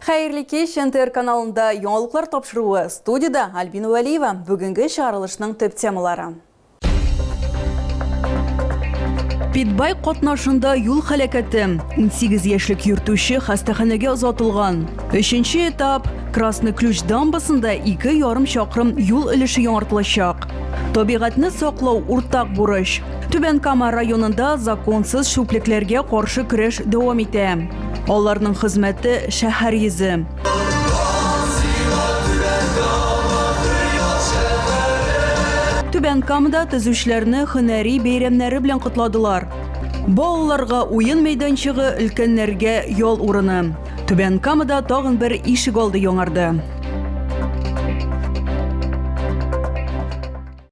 Хәерле кич, НТР каналында яңалыклар тапшыруы, студида Альбина Вәлиева. Бүгенге чыгарылышның төп темалары. Питбай катнашында юл хәләкәте. 18 яшьлек йөртүче хастаханәгә озатылган. Өченче этап Красный ключ дамбасында ике ярым чакрым юл өлеше яңартылачак. Табигатьне саклау уртак бурыч. Түбән Кама районында законсыз чүплекләргә каршы көрәш дәвам итә. Аларның хезмәте шәһәр йөзе. Түбән Камада төзүчеләрне һөнәри бәйрәмнәре белән котладылар. Балаларга уен мәйданчыгы, өлкәннәргә ял урыны. Түбән Камада тагын бер ишек алды яңарды.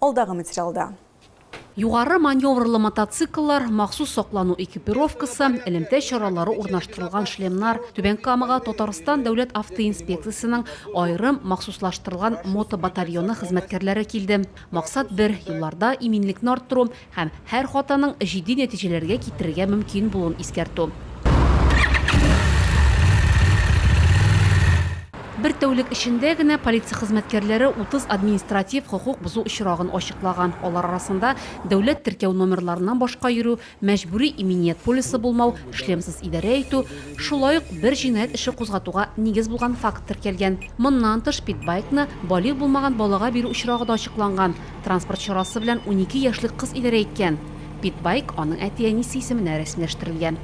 Алдагы материалда. Югары маневрлы мотоцикллар, махсус саклану экипировкасы, элемтә чаралары урнаштырылган шлемнар, Түбән Камага Татарстан Дәүләт автоинспекциясенең аерым махсуслаштырылган мотобатальоны хезмәткәрләре килде. Максат бер, юлларда иминлекне арттыру, Һәм һәр хатаның җитди нәтиҗәләргә китерергә мөмкин булуын искәртү. Бер тәүлек эчендә генә полиция хезмәткәрләре 30 административ хокук бозу очрагын ачыклаган, алар арасында дәүләт теркәү номерларыннан башка йөрү, мәҗбүри иминият полисы булмау, шлемсыз идарә итү, шулай ук бер җинаять эше кузгатуга нигез булган факт теркәлгән. Моннан тыш, питбайкны балигъ булмаган балага бирү очрагы да ачыкланган. Транспорт чарасы белән унике яшьлек кыз идарә иткән. Питбайк аның әти-әнисе исеменә рәсмиләштерелгән.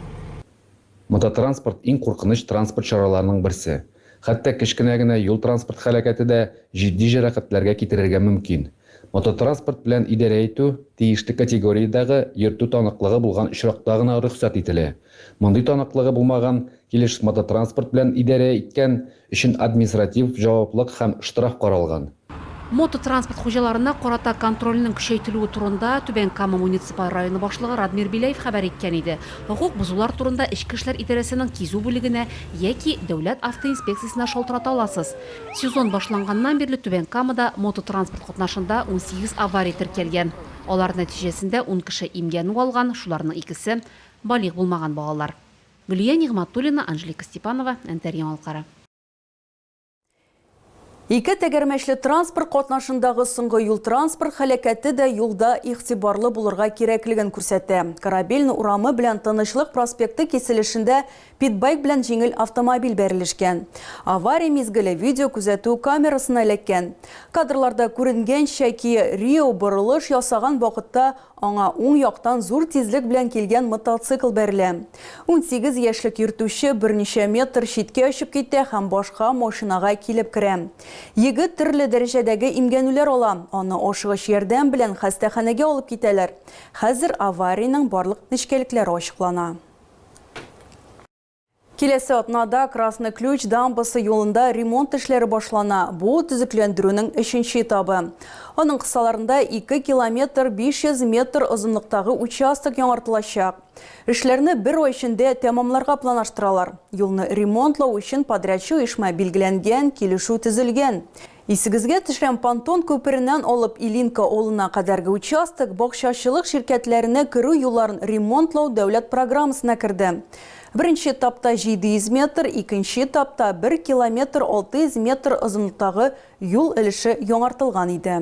Мототранспорт иң куркыныч транспорт чараларының берсе. Хәтта кечкенә генә юл-транспорт һәлакәте дә җитди җәрәхәтләргә китерергә мөмкин. Мототранспорт белән идарә итү тиешле категориядәгы йөртү таныклыгы булган очракта гына рөхсәт ителә. Мондый таныклыгы булмаган килеш мототранспорт белән идарә иткән өчен административ җаваплык һәм штраф каралган. Мототранспорт хуҗаларына карата контрольнең көчәйтелүе турында Түбән Кама муниципаль районы башлыгы Радмир Беляев хәбәр иткән иде. Хокук бозулар турында Эчке эшләр идарәсенең кизү бүлегенә яки Дәүләт автоинспекциясенә шалтырата аласыз. Сезон башланганнан бирле Түбән Камада мототранспорт катнашында унсигез авария теркәлгән. Алар нәтиҗәсендә ун кеше имгәнү алган, шуларның икесе, балигъ булмаган балалар. Гөлия Нигъматуллина, Анжелика Степанова, Әнтәр яңалыклары. Ике тәгәрмәчле транспорт катнашындагы соңгы юл-транспорт һәлакәте дә юлда игътибарлы булырга кирәклеген күрсәтә. Корабельный урамы белән Тынычлык проспекты киселешендә питбайк белән җиңел автомобиль бәрелешкән. Авария мизгеле видеокүзәтү камерасына эләккән. Кадрларда күренгәнчә, Kia Rio борылыш ясаган вакытта Аңа уң яктан зур тизлек белән килгән мотоцикл бәрелә. Унсигез яшьлек йөртүче берничә метр читкә очып китә һәм башка машинага килеп керә. Егет төрле дәрәҗәдәге имгәнүләр ала, аны ашыгыч ярдәм белән хастаханәгә алып китәләр. Хәзер аварийның барлык нечкәлекләре ачыклана. Киләсе атнада Красный Ключ дамбасы юлында ремонт эшләре башлана. Бу төзекләндерүнең өченче этабы. Аның кысаларында 2 километр 500 метр озынлыктагы участок яңартылачак. Эшләрне бер ай эчендә тәмамларга планаштыралар. Юлны ремонтлау өчен подрядчы оешма билгеләнгән, килешү төзелгән. Исегезгә төшәм, Пантон күпереннән алып Илинка авылына кадәрге участок бакчачылык ширкәтләренә керү юлларын ремонтлау дәүләт программасына керде. Беренче этапта 700 метр, икенче этапта бер километр 600 метр озынлыктагы юл өлеше яңартылган иде.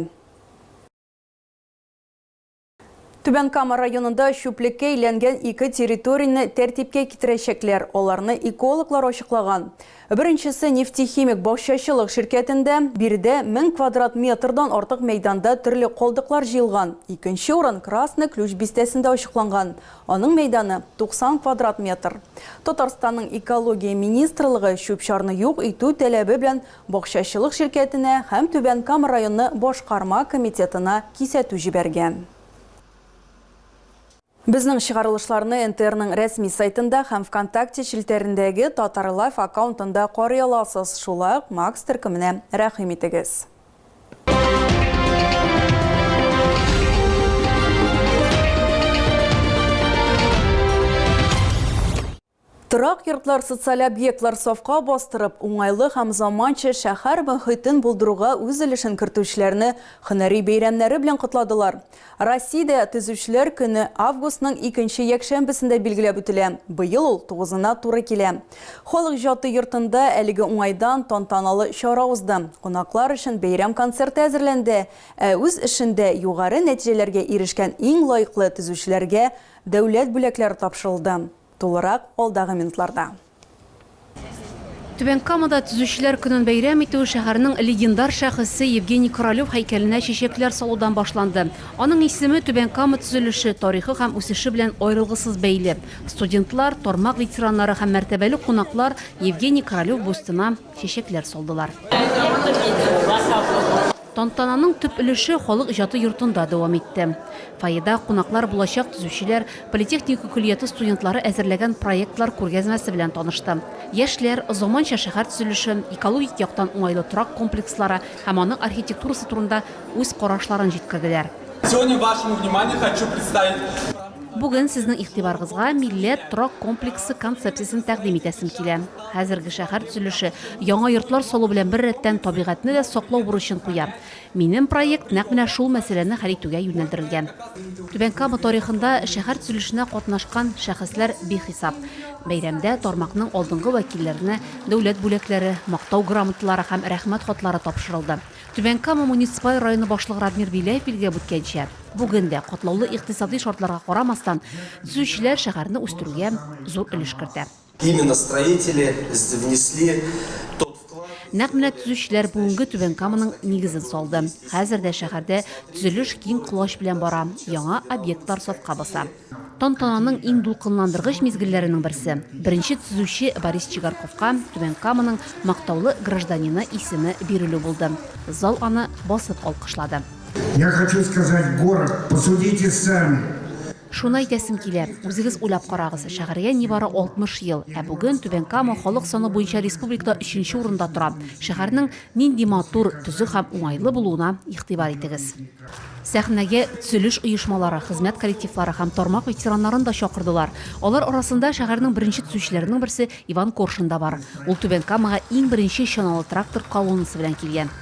Түбән Кама районында чүплеккә әйләнгән ике территорияне тәртипкә китерәчәкләр, аларны экологлар ачыклаган. Беренчесе Нефтехимик бакчачылык ширкәтендә, биредә 1000 квадрат метрдан артык мәйданда төрле калдыклар җыелган. Икенче урын Красный Ключ бистәсендә ачыкланган, аның мәйданы 90 квадрат метр. Татарстанның Экология министрлыгы чүп-чарны юк итү таләбе белән Бакчачылык ширкәтенә һәм Түбән Кама районы башкарма комитетына кисәтү җибәргән. Безнең чыгарылышларны НТРның рәсми сайтында һәм Вконтакте челтәрендәге Татарлайф аккаунтында карый аласыз, шулай ук Макс төркеменә рәхим итегез. Торак йортлар, социаль объектлар сафка бастырып, уңайлы һәм заманча шәһәр мохитен булдыруга үз өлешен кертүчеләрне һөнәри бәйрәмнәре белән котладылар. Россиядә Төзүчеләр көне августның икенче якшәмбесендә билгеләп үтелә, быел ул тугызына туры килә. Халык иҗаты йортында әлеге уңайдан тантаналы чара узды, кунаклар өчен бәйрәм концерты әзерләнде, ә үз эшендә югары нәтиҗәләргә ирешкән иң лаеклы төзүчеләргә Дәүләт бүләкләре тапшырылды. Тулырак алдагы минутларда. Түбән Камада Төзүчеләр көнен бәйрәм итү шәһәрнең легендар шәхесе Евгений Королев һәйкәленә чәчәкләр салудан башланды. Аның исеме Түбән Кама төзелеше, тарихы һәм үсеше белән аерылгысыз бәйле. Студентлар, тармак ветераннары һәм мәртәбәле кунаклар Евгений Королев бюстына чәчәкләр салдылар. Тантананың төп өлеше халык иҗаты йортында дәвам итте. Фойеда кунаклар булачак төзүчеләр, политехника көллияте студентлары әзерләгән проектлар күргәзмәсе белән танышты. Яшьләр заманча шәһәр төзелеше, экологик яктан уңайлы торак комплекслары һәм аның архитектурасы турында үз карашларын җиткерделәр. Сегодня вашему вниманию хочу представить. Бүген сезнең игътибарыгызга милләт торак комплексы концепциясен тәкъдим итәсем килә. Хәзерге шәһәр төзелеше, яңа йортлар салу белән бер рәттән табигатьне дә саклау бурычын куя. Минем проект нәкъ менә шул мәсьәләне хәл итүгә юнәлдерелгән. Түбән Кама тарихында шәһәр төзелешенә катнашкан шәхесләр бихисап. Бәйрәмдә тармакның алдынгы вәкилләренә дәүләт бүләкләре, Мактау грамоталары һәм Рәхмәт хатлары тапшырылды. Түбән Кама муниципаль районы башлыгы Радмир Беляев билгеләп үткәнчә, бүген дә, катлаулы икътисади шартларга карамастан, төзүчеләр шәһәрне үстерүгә зур өлеш кертә. Именно строители внесли тот вклад. Нәкъ менә төзүчеләр бүгенге Түбән Каманың нигезен салды. Хәзер дә шәһәрдә төзелеш киң колач белән бара, яңа объектлар сафка баса. Тантананың иң дулкынландыргыч мизгелләренең берсе, беренче төзүче Борис Чигарковка Түбән Каманың Мактаулы гражданины исеме бирелү булды. Зал аны басып алкышлады. Я хочу сказать город, посудите сами. Шуны әйтәсем килә, үзегез уйлап карагыз, шәһәргә нибары 60 ел, ә бүген Түбән Кама халык саны буенча республикада өченче урында тора. Шәһәрнең нинди матур, төзек һәм уңайлы булуына игътибар итегез. Сәхнәгә төзелеш оешмалары, хезмәт коллективлары һәм тармак ветераннарын да чакырдылар. Алар арасында шәһәрнең беренче төзүчеләренең берсе Иван Коршун да бар. Ул Түбән Камага иң беренче чаналы трактор колоннасы белән килгән.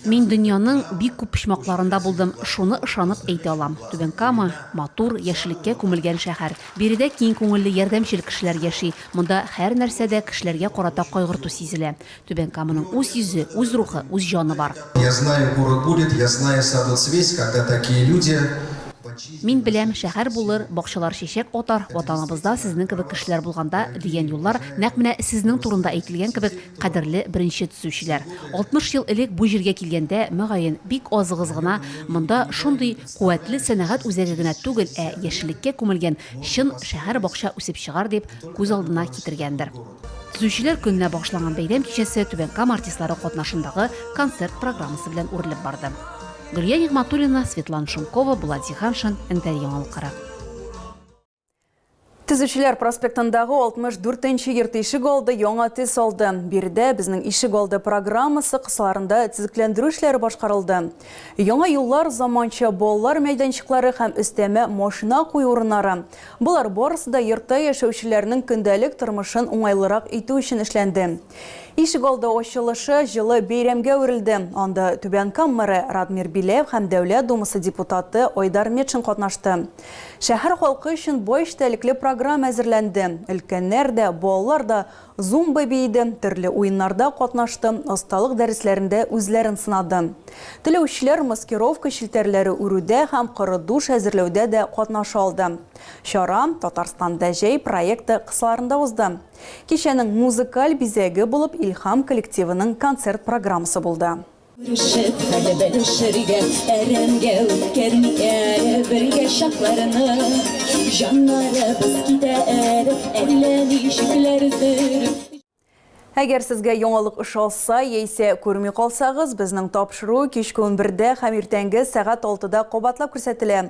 Мин дөньяның бик күп почмакларында булдым, шуны ышанып әйтә алам. Түбән Кама, матур, яшеллеккә күмелгән шәһәр. Биредә киң күңелле, ярдәмчел кешеләр яши. Монда һәрнәрсәдә кешеләргә карата кайгырту сизелә. Түбән Каманың үз йөзе, үз рухы, үз җаны бар. Я знаю, город будет, я знаю, садо цвесь, когда такие люди. Мин беләм, шәһәр булыр, бакчалар чәчәк атар, ватаныбызда сезнең кебек кешеләр булганда, дигән юллар нәкъ менә сезнең турында әйтелгән кебек, кадерле беренче төзүчеләр. 60 ел элек бу җиргә килгәндә, мөгаен, бик азыгыз гына монда шундый куәтле сәнәгать үзәге генә түгел, ә яшеллеккә күмелгән чын шәһәр-бакча үсеп чыгар дип күз алдына китергәндер. Төзүчеләр көненә багышланган бәйрәм кичәсе Түбән Кама артистлары катнашындагы концерт программасы белән үрелеп барды. Гөлия Нигъматуллина, Светлана Шумкова, Булат Зиһаншин, НТР яңалыклары. Төзүчеләр проспектындагы 64 нче йорт ишек алды яңа төс алды. Биредә безнең ишек алды программасы кысаларында төзекләндерү эшләре башкарылды. Яңа юллар, заманча балалар мәйданчыклары һәм өстәмә машина кую урыннары, Болар барысы да йортта яшәүчеләрнең көндәлек тормышын уңайлырак итү өчен эшләнде. Ишегалды ачылышы җылы бәйрәмгә әверелде. Анда Түбән Кама мэры Радмир Биләев һәм Дәүләт Думасы депутаты Айдар Метшин катнашты. Шәһәр халкы өчен бай эчтәлекле программа әзерләнде. Өлкәннәр дә, балалар да Зумба биеде, төрле уеннарда катнашты, осталык дәресләрендә үзләрен сынады. Теләүчеләр маскировка челтәрләре үрүдә һәм коры душ әзерләүдә дә катнаша алды. Чара Татарстанда җәй проекты кысаларында узды. Кичәнең музыкаль бизәге булып Илһам коллективының концерт программасы булды. Күрешеп, хәле белешергә, әрәмгә үткәрми әле бергә чакларны. Җаннарыбыз китә әле, әллә ничекләрдер. Әгәр сезгә яңалык ошалса, яисә күрми калсагыз, безнең тапшыру кичке 11-дә һәм иртәнге сәгать 6-да кабатлап күрсәтелә.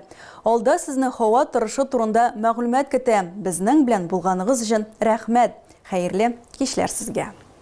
Алда сезне һава торышы турында мәгълүмат көтә. Безнең белән булганыгыз өчен рәхмәт! Хәерле кичләр сезгә!